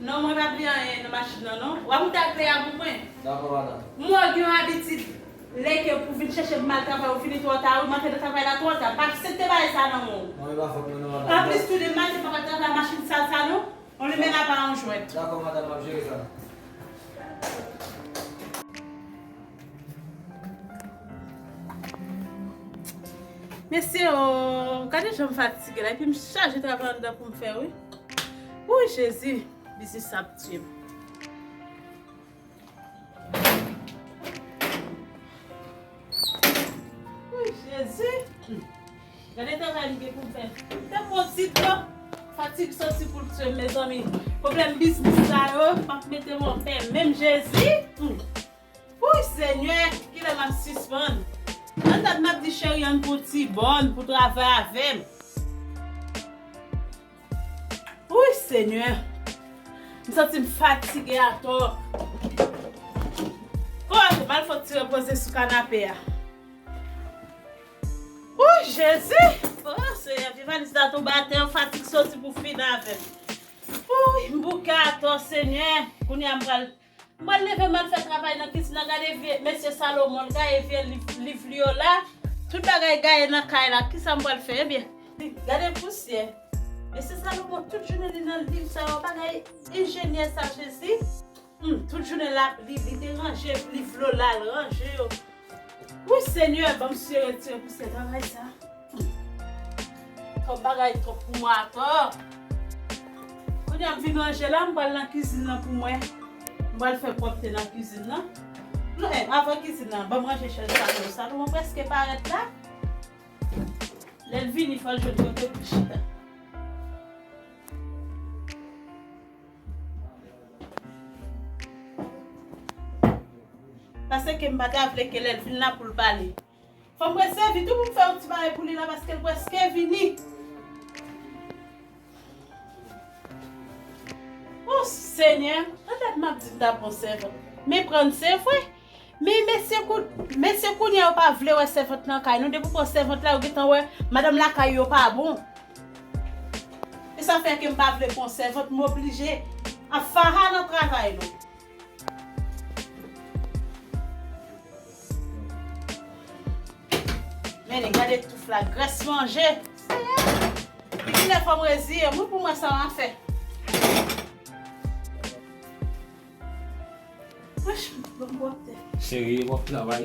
Non mwen pa bliye anyen nan machin nan non. Wap moute ak Lea pou mwen. Dakò madan. Mwen gen yon abitid lè ke pou vin chèchem mal travay ou fini twò ta wi, m antre nan travay la twò ta, pa aksepte bagay sa nan menw. Non li pa fòt mwen non madan. Anplis tou de maten papa travay machin sal sa non, yon limen apa yon jwèt. Dakò madan map jere sa. Mesye oo, gade jan m fatige la epi m chaje travay anndan pou m fè wi. Wouy Jezi, biznis sa ap tiye m. Wouy Jezi, gade travay m gen pou m fè. Fè m yon ti tan, fatig santi pou l tiye m mezanmi. Pwoblèm biznis sa yo pa p mete m anpè menm Jezi. Wouy senyè kilè map sispann. Nan tèt map di cheri ann pou ti bòn pou travay avèm. Wouy senyè m santim fatige atò. Bon ok bal fon ti repoze sou kanape a. Wouy jezi oh senyè pi valiz la tonbe atè fatig soti pou fin avèm. Wouy m bouke atò senyè kounya m pral. M pral leve m al fè travay nan kizin nan gade vye mesye Salomon l gaye vye liv li yo la. Tout bagay gaye nan kay la kisa m pral fè ebyen. Gade pousyè. Mesye Salomon tout jounen li nan liv sa yo bagay enjenyè sa jezi humm tout jounen lap li li te ranje liv Lola l ranje yo wouy senyè banm sye retire pousyè travay sa. Twòp bagay twòp pou mwen atò. Kounye a m fin ranje la, m pral nan kizin nan pou mwen. M pral fè pwòpte nan kizin nan. Non e, avan kizin nan, ban m ranje chèz salon yo. Salon an prèske parèt la. Lè l vini fò l jwenn kote pou l chita. Pase ke m pa ta vle ke lè l vin la pou l pale. Fòm prese vit wi pou m fè yon ti bagay pou li la paske l preske vini. O senyè, petèt m ap di m ta pran sèvant. Men pran l se vre. Men mesye kou, mesye kounye a yo pa vle wè sèvant nan kay nou. Depi ou pran sèvant la yo gentan wè madanm lakay yo pa bon. E sa fè ke m pa vle pran sèvant, m oblije ap fara nan travay nou. Mennen gade touf la grès manje. Seyè! Kilè fòm reziye mwen pou mwen sa mwen fè. Cheri, bon travay.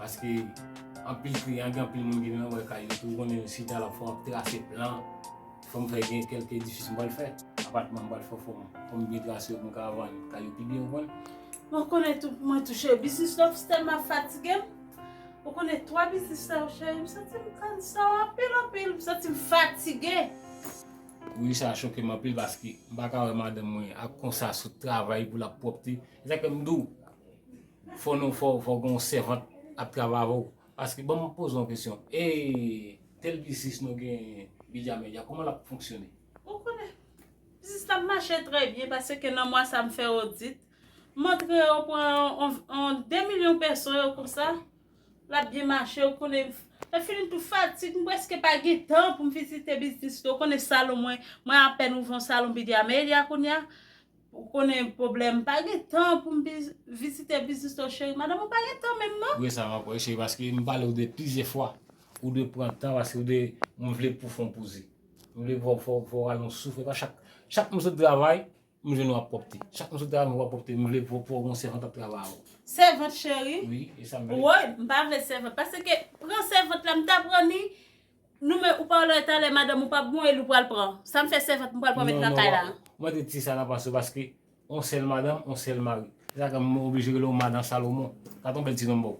Paske anpil kliyan gen anpil moun ki vin anba kay yo tou konnen si ta la fò ap trase plan, fòm fè gen kèlke edifis m pral fè, apatman m pral fè fòm fòm byen trase yo pou m ka vann kay yo pi byen ou konn. Mwen konnen tou pou mwen touche biznis la plis tèlman ap fatige m. Ou konnen 3 biznis sa yo cheri m santi m kansa w anpil anpil, m santi m fatige. Wi sa choke m anpil paske m pa ka wè madanm mwen ap konsa sou travay pou l ap pwòpte, se sa k fè m di w. Fò nou fò fò gen yon sèvant ap travay avè w paske banm poze yon kesyon e tel biznis nou genyen media media kòman lap fonksyone. Ou konnen. Biznis la mache trè byen paseke nan mwa sa m fè odit m antre yo pran yon 2 milyon pèso yo konsa lap byen mache ou konnen lè fini tout fatig m preske pa gen tan pou m vizite biznis nou konnen salon mwen mwen apèn ouvè yon salon media media kounya Ou konnen pwoblèm pa gen tan pou m vizite biznis ou cheri madanm ou pa gen tan menm non. Wi sa va wi cheri paske m pale ou de plizyè fwa ou dwe pran tan paske ou dwe m vle pou fon pouze m vle pou fò w rale yon souf epa chak chak m sot travay m jwenn ou ap pwòpte chak m sot travay m wè w ap pwòpte m vle pou w gen yon sèvant ap travay avè w. Sèvant cheri? Wi e sa m vle. Woy m pa vle sèvant paske pran sèvant la m ta pran ni Nou men ou pa wè lè talè madanm ou pap bon e li ou pral pran. Sa m fè sèvant m pral pran mèt nan kay la. Mwen te di sa nan panse paske on sèl madanm on sèl mari. Se sa ke m oblije rele w madan Salomon. Gad on bèl ti non ba w.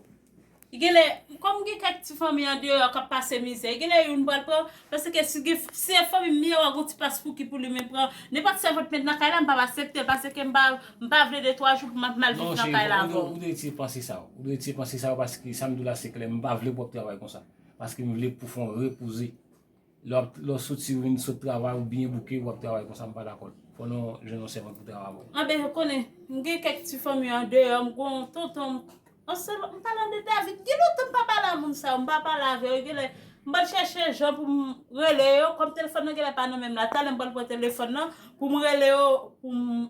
Genlè, kòm gen kèk ti fanmi andeyò k ap pase mizè, genlè youn pral pran, paske si gen si se fanmi m ye wa gen on ti paspouki pou li men pran nenpòt sèvant mèt nan kay la m pap asepte l paske m pa m pa vle de twa jou pou m ap mal viv nan kay la ankò. Non cheri, ou dwe ti panse sa w. Ou dwe ti panse sa w paske sa m di w la se klè m pa vle pou w ap travay konsa. Paske m vle pou fon repoze. Lè w soti ou vin sot travay ou byen bouke ou ap travay konsa m pa dakò. Fò n jwenn yon sèvant pou travay avè w. Anben ou konnen m gen kèk ti fanmi andeyò m gon yon tonton m yon sèl m palan de David gen lontan m pa pale a moun sa yo m pa pale avè yo genlè m pral chèche jan pou m rele yo kòm telefòn nan genlè pa nan men m la talè m pral pran telefòn nan pou m rele yo pou m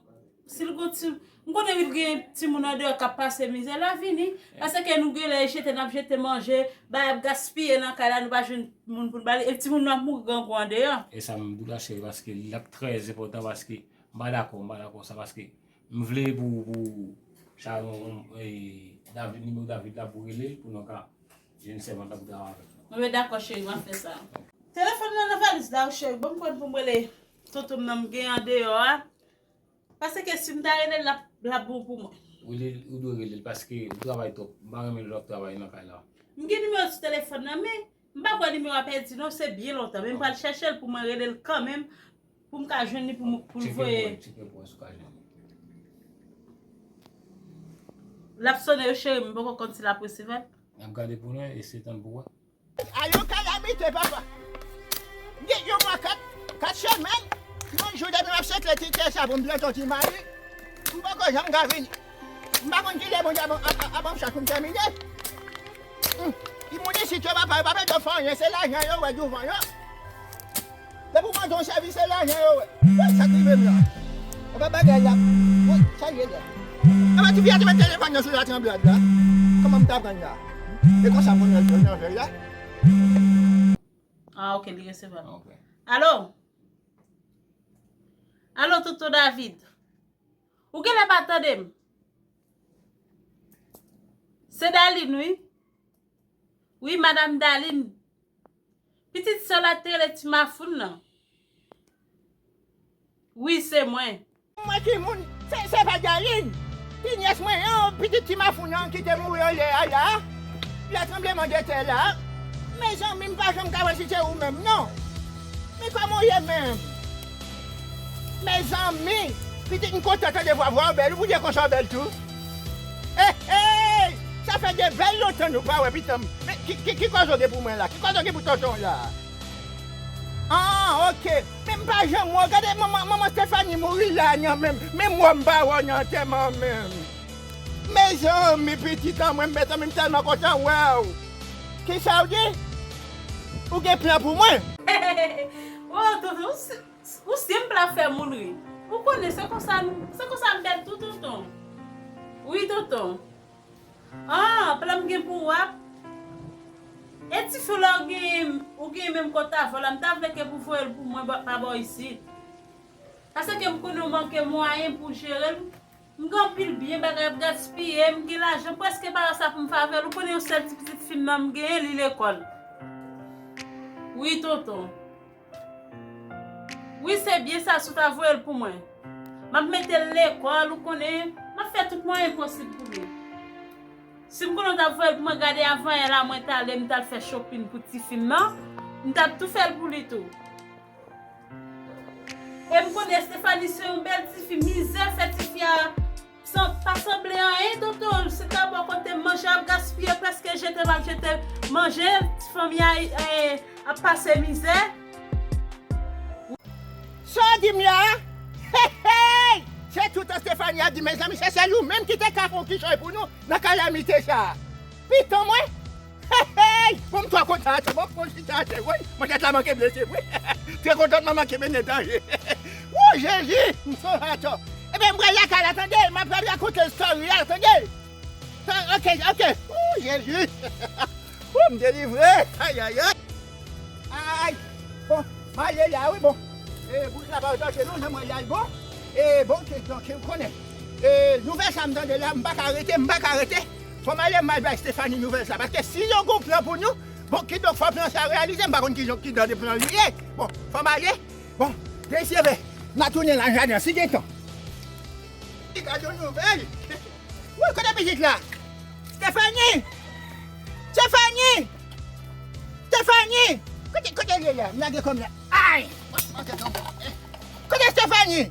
Sil gon ti M konnen wi l gen timoun andeyò kap pase mizè la vini paseke nou genlè e jete nap jete manje bagay ap gaspiye nan kay la nou pa jwenn moun poun bali epi timoun nou ap mouri grangou andeyò. Esa m dou la cheri paske li ap trè enpòtan paske m pa dakò m pa dakò sa paske m vle pou pou Sharon e David nimewo David la pou rele l pou nou ka jwenn sèvant la pou travay avèl. Mwen met dakò cheri map fè sa. Telefòn m nan nan valiz la wi cheri banm kòd poum rele tonton m nan m gen andeyò a. Paseke sim ta relel lap bon pou mwen. Wi ou dwe relel paske ou travay twop m pa renmen lè wap travay nan kay la. M gen nimewo sou telefon nan men m pa kwè nimewo a pèdi non se byen lontan men m pral chèchel pou mwen relel kanmenm pou m ka jwenn li pou m voye. Tcheke pou wè si w ka jwenn li. Lap sone wi cheri m poko konn si lap resevwa l. Nap gade pou nou e se tann pou wè. A yon kalamite papa m gen yon mwa 4 4 semèn yon jou depi map sekle ti tè sa pou m pran ton ti mari m poko janm ka vini m pa konn kilè Bondye ap banm chans pou m tèmine humm ti moun isit yo papa yo pa mèt yo fè anyen se lajan yo wè douvan yo. Depi ou pa gen yon chèvi se lajan yo wè. Woy sak rive m la. Epa bagay la woy sak ye la. Epa tifi a te met telefòn nan sou la tranblad la. Kòman m ta prann la. E konsa moun yo jwenn anvel la. Ah ok li resevwal ok. Allo Allo tonton David Ou genlè pa tande m Se Daline wi Wi madam Daline Pitit sè la te rele ti mafoun nan. Wi se mwen. Mwen ki moun se pa Darline ki nyès mwen an pitit ti mafoun an ki te mouri yè a la lè tranbleman de tè la mezanmi m pa janm ka wè si se ou menm non men kòman w ye menm. Mezanmi! Pitit m kontan tande vwa vwa w bèl ou pou diye konsa w bèl tou Eyy sa fè de bèl lontan nou pa wè pitan m men ki kòz ou gen pou mwen la ki kòz ou gen pou tonton w la Aah ok men m pa janm wè w gade manman Stéphanie mouri la nan men m menm wè w m pa wè w nan antèman an menm Mezanmi pitit an mwen mezanmi m tèlman kontan wè w Kisa w di ou gen plan pou mwen. Oh tonton ou ou senpl ap fè moun ri ou konnen se konsa nou se konsa m bèl tou tonton wi tonton ah plan m gen pou ou ap e ti fyo la ou genyen ou genyen menm kont avè w la m ta vle ke pou voye l pou mwen pa ba w isit pase ke m konnen ou manke mwayen pou w jere l M gen anpil byen bagay ap gaspiye m gen lajan m preske pa wè sa pou m fè avèl ou konnen yon sèl ti pitit fi m nan m genyen li lekòl wi tonton wi se byen sa si w ta voye l pou mwen m ap mete l lekòl ou konnen m ap fè tout mwayen posib pou li si m konnen w ta voye l pou mwen gade avan yè la mwen ta ale m ta al fè chopin pou ti fi m nan m ta tou fè l pou li tou. E m konnen Estephanie se yon bèl tifi mizè fè tifi a pa sanble anyen tonton l se ta bon kote manje ap gaspiye preske jete l ap jete manje ti fanmi a ap pase mizè. Sa w di m la a? Heyy! Se tout Estephanie ap di mezanmi se sèl ou menm ki te ka fè yon kichòy pou nou nan kalamite sa a. Piton mwen! Hey! Pou m twò kontan ase bon pou m chita ase woy! Machèt la manke blese wi! Tè kontantman manke mennen danje! Woo Jezi! M son atò! Enben m pral lakay la tande! M apral rakonte story a tande! Ok! Ok! Woo Jezi! Woo m delivre! Ayayay! Ayy! Bon! M a ye la wi bon! E bourik la pa wè danje non jan m wè la wi bon! E bon! Donk ou konnen! E nouvèl sa m tande la m pa ka rete! M pa ka rete! Fòm ale mal bay Stéphanie nouvèl sa paske si yon gon plan pou nou bon kidonk fò plan sa reyalize m pa konn kijan kidan de plan li ye bon fòm ale bon mesye ve na tounen lan jaden an si gen tan li ka jwenn nouvèl wouyy kote pitit la Stéphanie Stéphanie Stéphanie kote kote l ye la m lage kòm la ayy kote Stéphanie.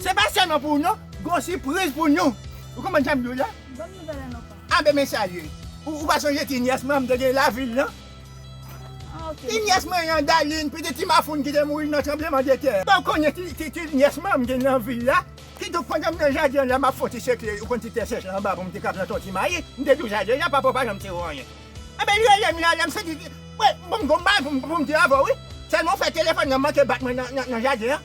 Se pa sèlman pou ou non, gon sipriz pou nou. Ou konprann sa m di w la? Banm nouvèl an non pa. Ah ben men sa l ye. Ou pa sonje ti nyès mwen an m te gen lavil lan? Ah ok. Ti nyès mwen an Daline, pitit ti Mafoun ki te mouri nan tranbleman de tè. Ou konnen ti nyès mwen an m gen nan vil la? Ki donk pandan m nan jaden an la m ap fon ti sekle, ou konn ti tè sèch la anba pou m te ka planton ti mayi, m te di w jaden an papa w pa janm te wè anyen. Ebyen li relem la lèm sezi di bon gon bagay poum di avèw wi Tèlman ou fè telefòn nan manke bat mwen nan jaden an.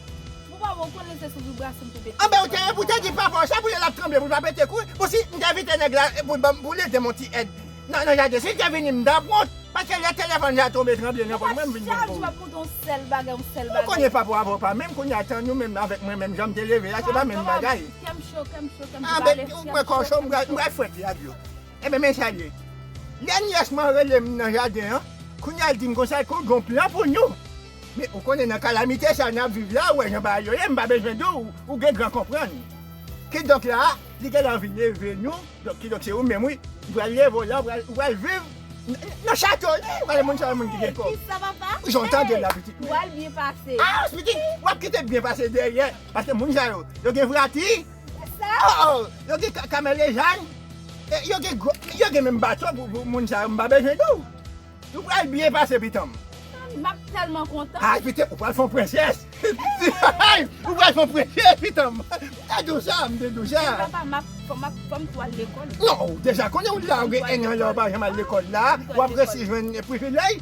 Bon papa ou konnen se sou vibration m te pete Anben ou te ou te di papa w sa pou lèl ap tranble pou l pa pete kou pou si m te envite nèg la pou l banm pou l edem yon ti èd nan jaden si l te vini m tap wont paske lè telefòn sa tranble tranble nan pòch mwen m vin bon kou wi Ou konnen papa w avè w pa menm kounye a tan nou menm avèk mwen menm jan m te leve a se pa menm bagay Anben ou kwè kòw cho m pral fwèt li ak dlo. Enben men sa l ye, lè nyès mwen rele m nan jaden an, kounye a l di m konsa l konn gen yon plan pou nou. Men, ou konnen nan kalamite sa a n ap viv la, ou wè jan bagay yo ye, m pa bezwen di w, ou gen gran konprann. Kidonk la a, li gen lè anvi leve nou, donk kidonk se ou menm wi, ou pral leve w la, ou pral, ou pral viv nan chato li, ou pral moun sa yo moun ki gen kòb. Kisa papa? Jan w tande l la pitit mwen. Ou pral byen pase. Aah pitit, w ap kite byen pase dèyè, paske moun sa yo, yo gen vrati. Ooh yo gen kamelejay e yo gen gwo yo gen menm bato pou moun sa yo m pa bezwen di w nou pral byen pase pitanm. Tann map telman kontan. Ay pitanm ou pral fon prensès Ay ou pral fon prensè pitanm m te di w sa m te di w sa. Men papa map fom tou al lekòl. Non ou deja konnen ou la ou gen 1 an la ou pa janm al lekòl la wap resi jwenn privilèj.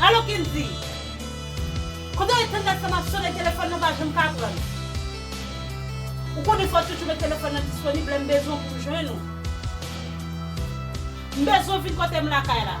Alo Kendy! Kote w ye tanndat sa map sone telefòn nan pa janm ka pran. Ou konnen fò w toujou met telefòn nan disponib lè m bezwen w pou m jwenn ou. M bezwen w vin kote m lakay la.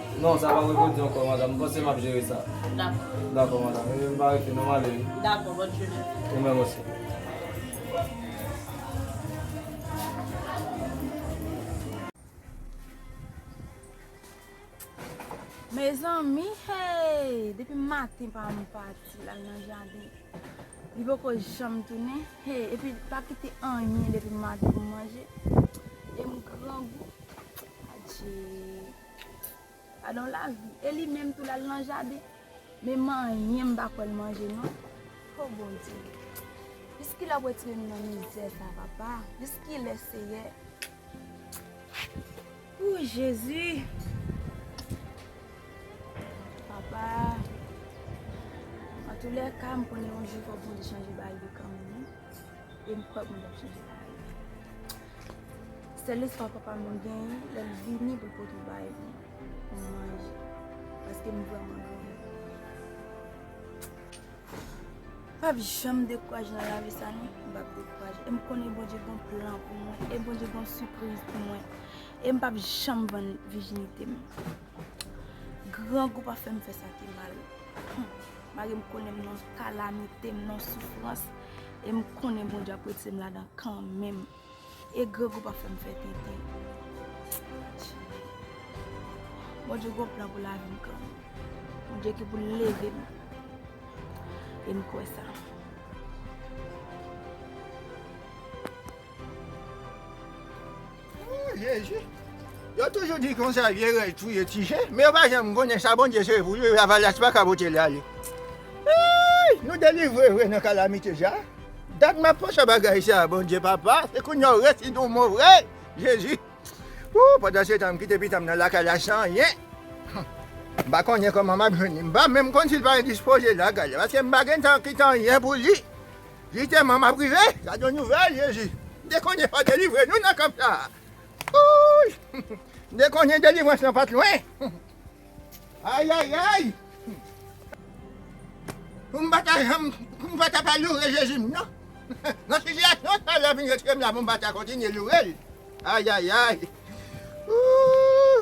Non sa pa reponn ankò madam, m panse map jere sa. Dakò. Dakò madam, ebyen m pa rete non m ale wi. Dakò, bòn jounen. Ou menm osi. Mezanmi hey! Depi maten pa m pati lal nan jaden. Li poko janm tounen. Hey epi li pa kite anyen depi maten pou m manje. E m grangou. Adjee. Gadon lavi e li menm tou lal nan jaden men manyen mpa kwè l manje non ho bondye jiskilè wap retire nou nan mizè sa papa jiskilè seyè ooh jezi papa antoulèka mkonnen yon jou fò bondye chanje bagay yo kanmenm wi. E m kwè Bondye ap chanje sa yo. Sèl lespwa papa m genyen lè l vini pou l pote w bay pou m manje. Paske m vrèman goumen. M p ap janm dekouraje nan lavi sa non. M p ap dekouraje. E m konnen Bondye gen yon plan pou mwen. E Bondye gen yon sipriz pou mwen. E m p ap janm vann vijinite m. Grangou pa fè m fè sa ki mal. Mari m konnen m nan kalamite, m nan soufrans, e m konnen Bondye ap retire m ladan kanmenm. E grangou pa fè m fè tenten. Bondye gon plan pou lavi m kanmenm. Bondye gen pou l leve m. E m kwè sa. Ooh jezi Yo toujou di konsa vye rèy touye ti chen men yo pa janm konnen sa Bondye sere pou yo lavalas pa ka pote li ale Ooh nou delivre vre nan kalamite sa Dat map panse bagay sa Bondye papa se kounya ou resi don mò vre jezi Ooh pandan se tan m kite pitanm nan lakay la san anyen Humm m pa konnen kòman map jwenn li m pa menm konn sil pa endispoze lakay la paske m pa gentan kite anyen pou li Jiteman map rive sa gon nouvel jezi m te konnen wap delivre nou nan kanp sa ooyy m te konnen delivrans lan pat lwen ayayayy pou m pata janm pou m pata pa loure jezi m nan nan sitiyasyon sa lè vin retirem la pou m pata kontinye lourel ayayayy ooh.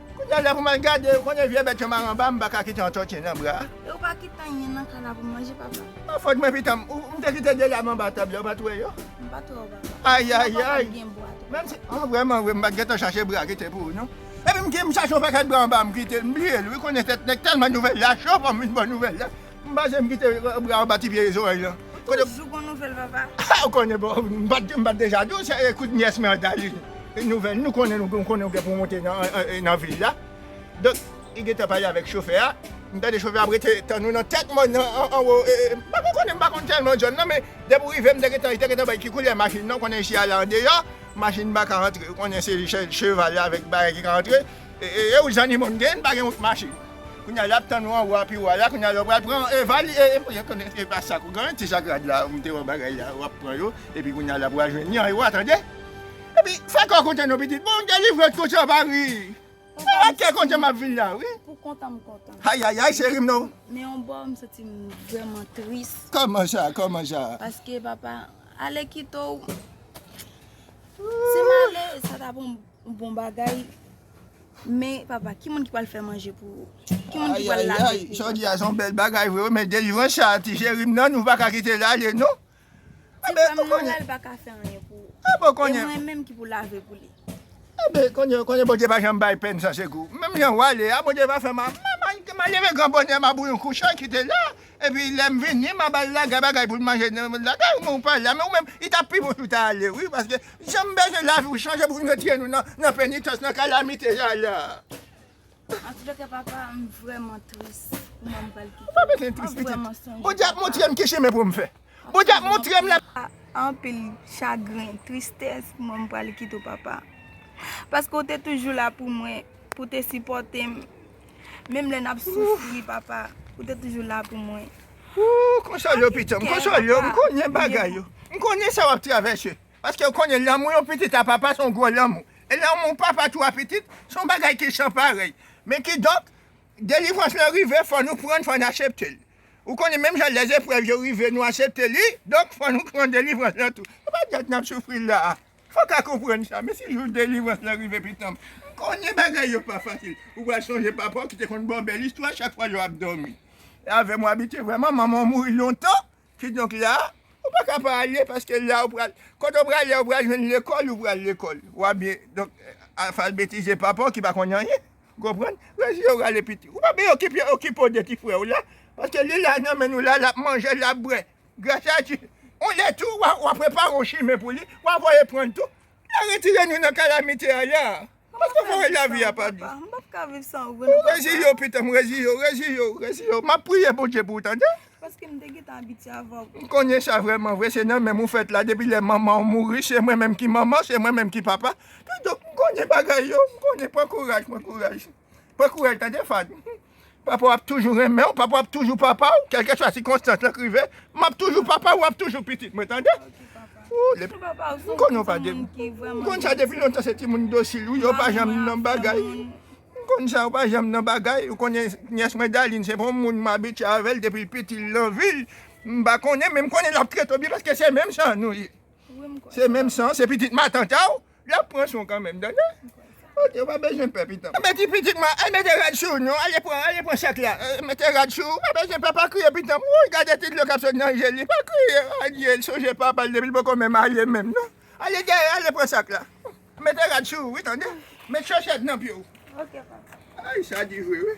Kounye a lè pou m al gade yo konnen vye bèt yo maranba m pa ka kite yon tòti nan bra. E ou pa kite anyen nan kay la pou m manje papa? Pa fòt mwen pitanm. Ou te kite 2 lam anba tab la ou pa t wè yo? M pa t wè yo papa. Ayayay! An vrèman vre m pa t gentan chache bra kite pou ou non. Epi m chache yon pakèt bra anba m kite l. M bliye l wi kounye tèt nèg tèlman nouvèl la cho pou m vin ba w nouvèl la. M pa janm kite bra anba ti pye zorèy lan. Ou toujou gon nouvèl papa. Ou konnen bon m pat deja di w se ekout nyès mwen an ta li nouvèl nou konnen nou konnen ou gen pou w monte nan vil la donk li gentan pale avèk chofè a m tande chofè a ap rete tann nou nan tèt mòn nan anwo m pa ko konnen m pa konn tèlman zòn nan men depi w rive m te gentan li te gentan bay ki koulè machin nan ou konnen chye a la andeyò machin pa ka antre ou konnen se cheval avèk bagay ki ka antre. Eeeuu zanny moun gen pa gen wout mache kounya yap tann ou anwo api wa la kounya lè ou pral pran e vali e konnen epa sak ou gen ti sak rad la ou mete ou bagay la wap pran yo epi kounya la pral jwenn yan e wa tande epi fè kòw kontan non pitit bon delivre w konsa pa ri se ak kè kontan map vin la wi pou kontan m kontan ayayay cherim non men yon bò m santi m vrèman tris kòman sa kòman sa paske papa ale kite w si m ale sa ta bon. Bon bagay Men papa ki moun ki pral fè manje pou ou? Ki moun ki pral lave pou ou? Jodi a son bèl bagay vre wi men delivrans sa ti cheri m nan nou pa ka kite l ale non. Ti frè m nan la l pa ka fè anyen pou ou. E mwen menm ki pou lave pou li. Anben konnen Bondye pa janm bay pèn san sekou. Menm jan w ale a Bondye va fè m a m a leve gran bonè m a bou yon kouch kite la. Epi lèm vini ma bal laga bagay poul manje nan men laga ou men ou pa la men ou menm li tap pi bon si ou ta ale wi paske janm bezwen lavi ou chanje poun retire nou nan penitans nan kalamite sa la. An tout cas papa m vrèman tris pou mom m pral kite. Ou pa bezwen tris pitit. Bondye ap montrem ki chemen poum fè. Bondye ap montrem la. Anpil chagren, tristès pou mom m pral kite w papa. Paske w te toujou la pou mwen, pou w te sipòte m. Menm lè nap soufri papa ou te toujou la pou mwen. Ooh konsole yo pitom, konsole yo, m konnen bagay yo, m konnen sa wap travèse, paskew konnen lanmou yon pitit a papa son gwo lanmou, e lanmou papa tou a pitit son bagay ki san parèy, men kidonk delivrans lan rive fò nou prann fò n aseptel, ou konnen menm jan lèzeprèv yo rive nou asepte li, donk fò nou pran delivrans lan tou, se pa jwèt nap soufri la a. Fò ka konprann sa, men si jou delivrans lan rive pitanm, m konnen bagay yo pa fasil, ou pral sonje papa w ki te konn ba w bèl istwa chak fwa yo ap dòmi avè m w abite wè man manman w mouri lontan, kidonk la a, ou pa ka pa ale paske la a ou pral, kote ou prale a ou pral jwenn lekòl ou pral lekòl, w ap byen, donk afalbetize papa w ki pa konn anyen, ou konprann, rès yo rale piti, ou pa byen okipe okipe w de ti frè w la, paske li la nan men nou la a, l ap manje, l ap bwè. Gras a Dye. On lè tou wa wa prepare on chimen pou li, wa voye pran l tou. La retire nou nan kalamite a ya. Paske fò wè lavi a pa dous. M pap ka viv san ou vre non papa. Reziye w pitan m, reziye w, reziye w, reziye w. M ap priye Bondye pou ou tande. Paske m te gentan abitye avè w. M konnen sa vrèman vre se nan men m ou fèt la depi lè manman w mouri se mwen menm ki manman, se mwen menm ki papa. Kidonk m konnen bagay yo, m konnen pran kouraj, pran kouraj. Pran kouraj tande Fadou. Papa w ap toujou renmen w, papa w ap toujou papa w, kèlkeswa sikonstans lan k rive, m ap toujou papa w, w ap toujou pitit mwen tande. M konnen w pa de, m konn sa depi lontan se timoun dosil ou ye, w pa janm nan bagay, m konn sa w pa janm nan bagay, ou konnen nyès mwen Daline se pa yon moun m abitye avè l depi l piti l nan vi l, m pa konnen men m konnen l ap trete w byen paske se menm san nou ye. Se menm san, se pitit matant a w. Yap pran son kanmenm tande. Ok ou pa bezwen pè pitanm. Anben ti pitit mwen al mete rad sou ou non ale pran ale pran sèk la mete rad sou ou pa bezwen pè pa kriye pitanm wouyy gade ti dlo kap sot nan je li pa kriye adye l sonje papal depi l poko men marye menm non ale dèyè ale pran sak la mete rad sou ou wi tande met chòchèt nan pye w ok papa ayy sa di vre wi.